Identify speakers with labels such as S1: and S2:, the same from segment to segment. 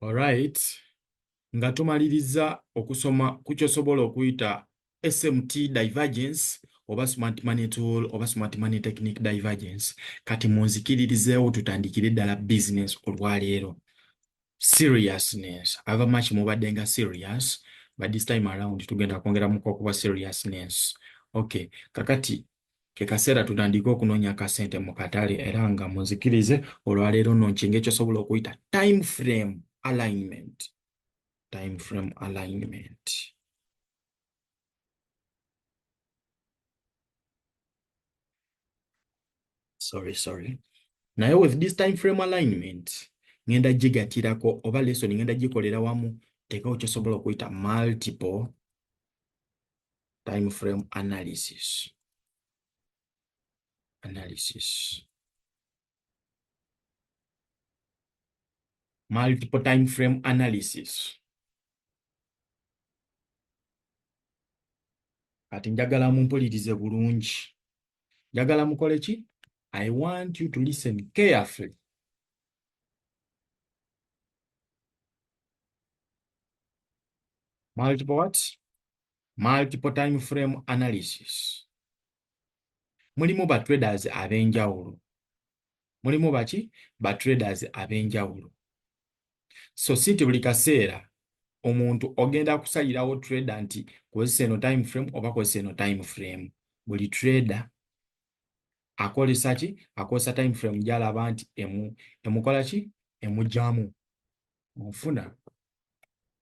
S1: Alright. Nga tumalirizza okusoma ku ky'osobola okuyita SMT divergence oba smart money tool oba smart money technique divergence. Kati munzikiririzeewo tutandikire ddala business olwaleero. Seriousness. Ava much mubadde nga serious but this time around tugenda kwongeramuko okuba seriousness. Okay. Kakati ke kaseera tutandike okunoonya akasente mu katale era nga munzikirize olwaleero no nkinga ekyosobola okuyita time frame alignment time frame alignment sorry sorry naye with this time frame alignment ngenda gigatirako oba lesson ngenda gikolera wamu teekawo kyosobola okuyita multiple time frame analysis analysis multiple time frame analysis kati njagala mumpulirize bulungi njagala mukole ki i want you to listen carefully multiple what multiple time frame analysis mulimu ba traders ab'enjawulo mulimu baki ba traders ab'enjawulo so si nti buli kaseera omuntu ogenda kusalirawo trader nti kozesa eno time frame oba kozesa eno time frame buli trader akozesa ki akozesa time frame gyalaba nti emu emukola ki emujamu mufuna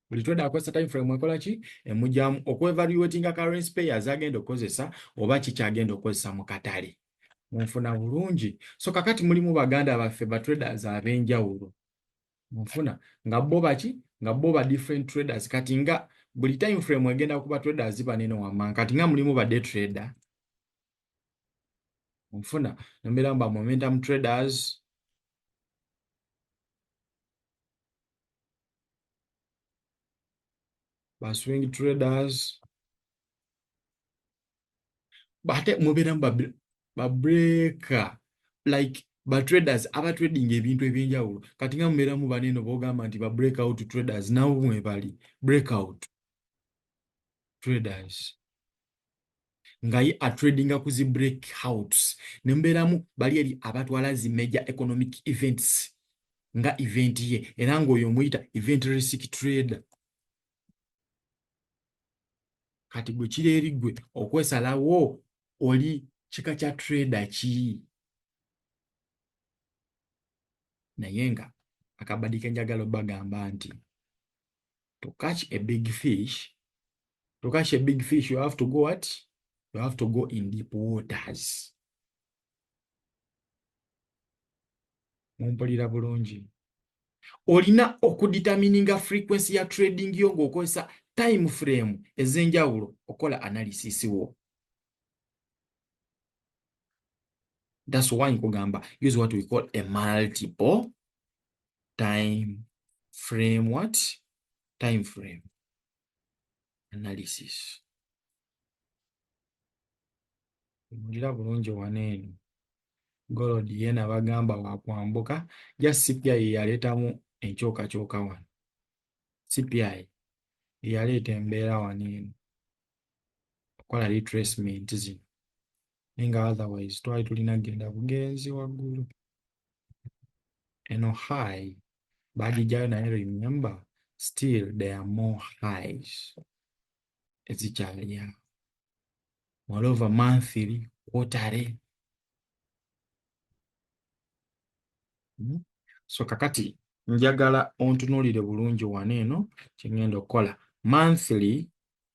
S1: buli trader akozesa time frame ekola ki emujamu okwevaluatinga currency pairs agenda okukozesa oba kiki agenda okukozesa mu katale munfuna bulungi so kakati mulimu baganda baffe ba traders ab'enjawulo munfuna nga bo baki nga bo ba different traders kati nga buli time frame egenda kuba traders banene wammanga kati nga mulimu ba day trader nfuna nombeera mba momentum traders ba swing traders bate mubeeramu ba breaker like ba traders aba trading ebintu ebyenjawulo kati nga mubeeramu baneeno bogamba nti ba break out traders nabo mwebali break out traders nga ye atradinga ku zi break house ne mubeeramu bali eri abatwala zi major economic events nga event ye era ng'oyo omuyita event risk trader kati gwe kiri eri gwe okwesalawo oli kika kya trader ki naye nga akabadi kenjagala obagamba nti to catch a big fish to catch a big fish you have to go what you have to go in deep waters mumpulira bulungi olina okuditamininga frequency ya trading yo ng'okozesa time frame ez'enjawulo okola analysis wo that's why nkugamba use what we call a multiple time frame what time frame analysis mulira bulungi wano eno golod yena bagamba wakwambuka ja cpi yeyaleetamu enkyokakyoka wano cpi eyaleeta embeera wano eno okola retracement zino naye nga otherwise twali tulina kugenda bugenzi waggulu eno high bagijjayo naye remember still there are more highs ezikyaliawo moreover monthly quarterly hmm? so kakati njagala ontunulire bulungi wano eno kyengenda okukola monthly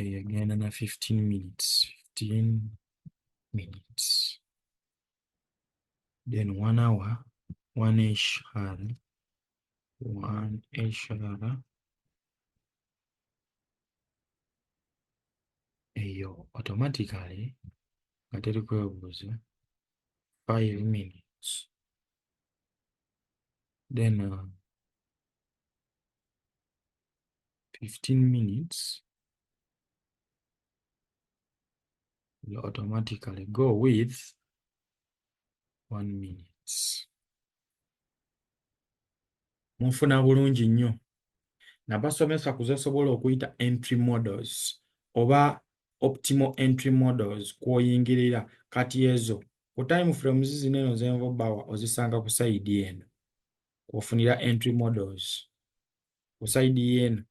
S1: eyagenda na 15 minutes 15 minutes then one hour one eshara one eshara eyo automatically nga teri kwebuuza 5 minutes then uh, 15 minutes will automatically go with one minutes munfuna bulungi nnyo nabasomesa kuzesobola okuyita entry models oba optimal entry models kwoyingirira kati ezo ku time frames zino eno zenvo bawa ozisanga ku side eno kwofunira entry models ku side yeno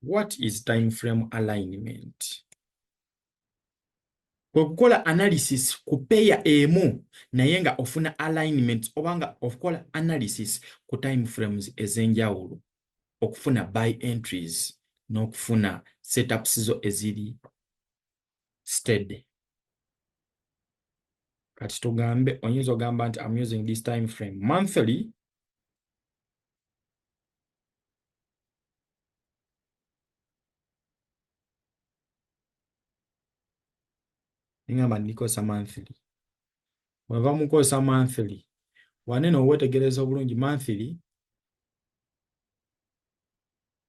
S1: what is time frame alignment okukola analysis ku peya emu naye nga ofuna alignment obanga okukola analysis ku time frames ezenjawulo okufuna by entries n'okufuna setups zo eziri steady kati tugambe oyinza ogamba nti am using this time frame monthly ngamba ndikosa monthly wava mukosa monthly wanene owetegereza obulungi monthly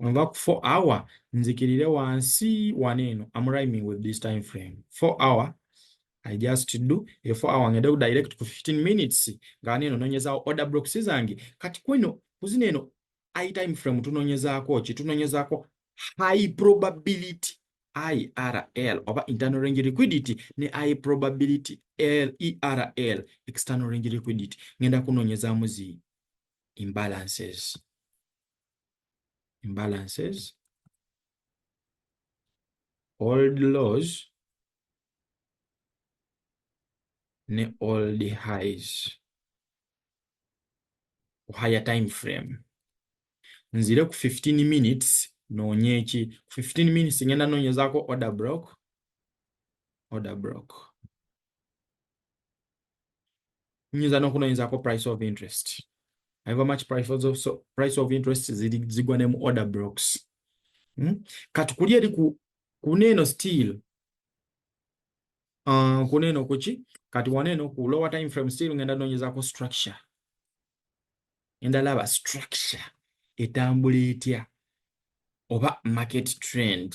S1: nva ku 4 hour nzikirire wansi wano eno am rhyming with this time frame 4 hour I just do e 4 hour ngende ku direct ku 15 minutes nga wano eno nonyezawo order blocks zange kati kweno kuzina eno i time frame tunonyezaako ki tunonyezaako high probability IRL oba internal range liquidity ne I probability L ERL external range liquidity ngenda kunonyezamu zi imbalances imbalances old laws ne old highs higher time frame nzire ku 15 minutes noonye ki ku 15 minutes ngenda noonyezaako order block order block nyinza n'okunoonyezako price of interest however much price of, so, price of interest zigwa ne mu order blocks hmm? kati kuli eri ku kuneeno still uh, kuneeno kuki kati waneeno ku lower time frame still ngenda noonyezako structure endalaba structure etambula etya oba market trend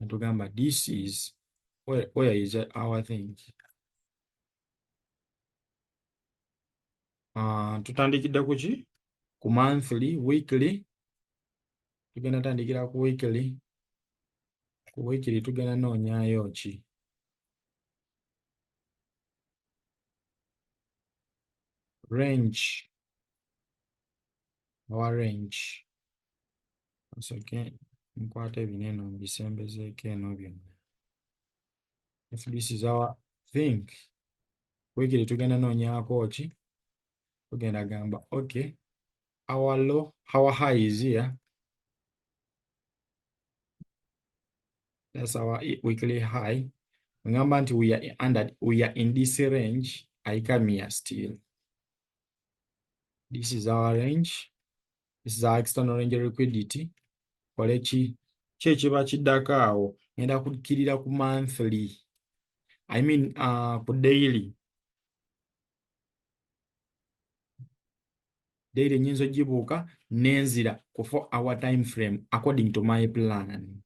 S1: natugamba this is where, where is our thing uh, tutandikidde kuki ku monthly weekly tugenda tandikira ku weekly ku weekly tugenda noonyayo ki range our range osooke nkwate bino eno mbisembezeeko eno byonna if this is our think wekiri tugenda noonyako ki tugenda gamba okay our low our high is here that's our weekly high ngamba nti we are under we are in this range ayikamia still this is our range this is our external range liquidity kole ki ki ekiba kiddako awo ngenda kukkirira ku monthly i mean uh, ku daily daily nyinza ogibuuka nenzira ku four hour time frame according to my plan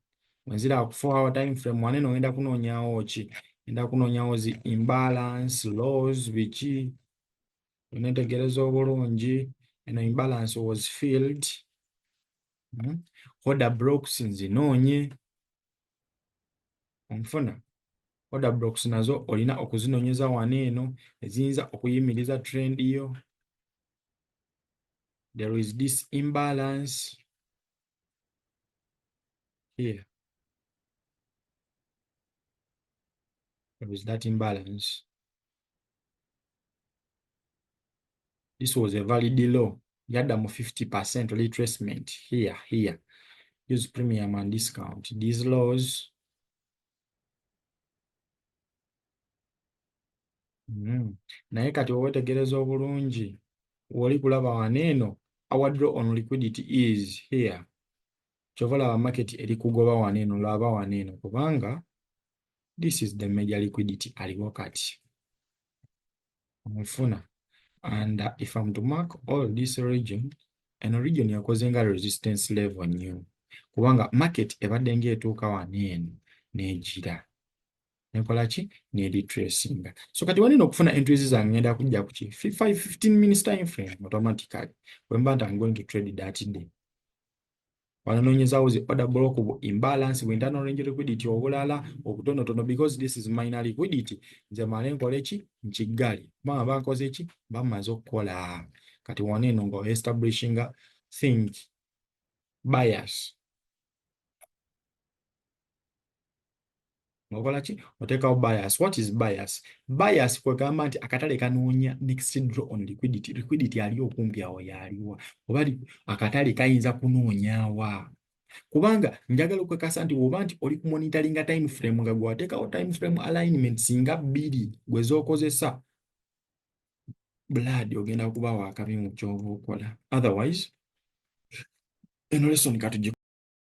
S1: wenzira ku four hour time frame wane no ngenda kunoonyawo ki ngenda kunoonyawo zi imbalance laws biki onetegereza obulungi eno imbalance was filled hmm? order blocks nzinoonye onfuna order blocks nazo olina okuzinonyeza wano eno eziyinza okuyimiriza trend yo there is this imbalance here there is that imbalance This was a valid low. Yada mu 50% retracement here, here. Use premium and discount. These lows. Mm. Naye kati owetegereza obulungi woli kulaba waneeno our draw on liquidity is here kyova laba market eri kugoba waneeno laba waneeno kubanga this is the major liquidity aliwo kati omufuna and uh, if am to mark all this region eno region yakoze nga resistance level new kubanga market ebadde ngaetuuka wano eno negira nekola ki neritracinga so kati wanina okufuna entries zange ngenda kujja kuki 15 minutes time frame automatically wemba nti am going to trade that day wananonyezawo zi order block bu imbalance bu internal range liquidity obulala obutonotono because this is minor liquidity nze male nkole ki nkigali kubanga bankoze ki bamaze okukola kati wona eno nga establishinga think bias ngokola ki otekawo bias what is bias bias kwegamba nti akatale kanoonya next draw on liquidity liquidity ali okumpi awo yaliwa oba akatale kayinza kunoonyawa kubanga njagala okwekasa nti woba nti oli kumonitoringa time frame nga gwatekawo time frame alignment singa bbiri gwezokozesa blood ogenda kuba wakabi mu kyoba okola otherwise eno lesson katujje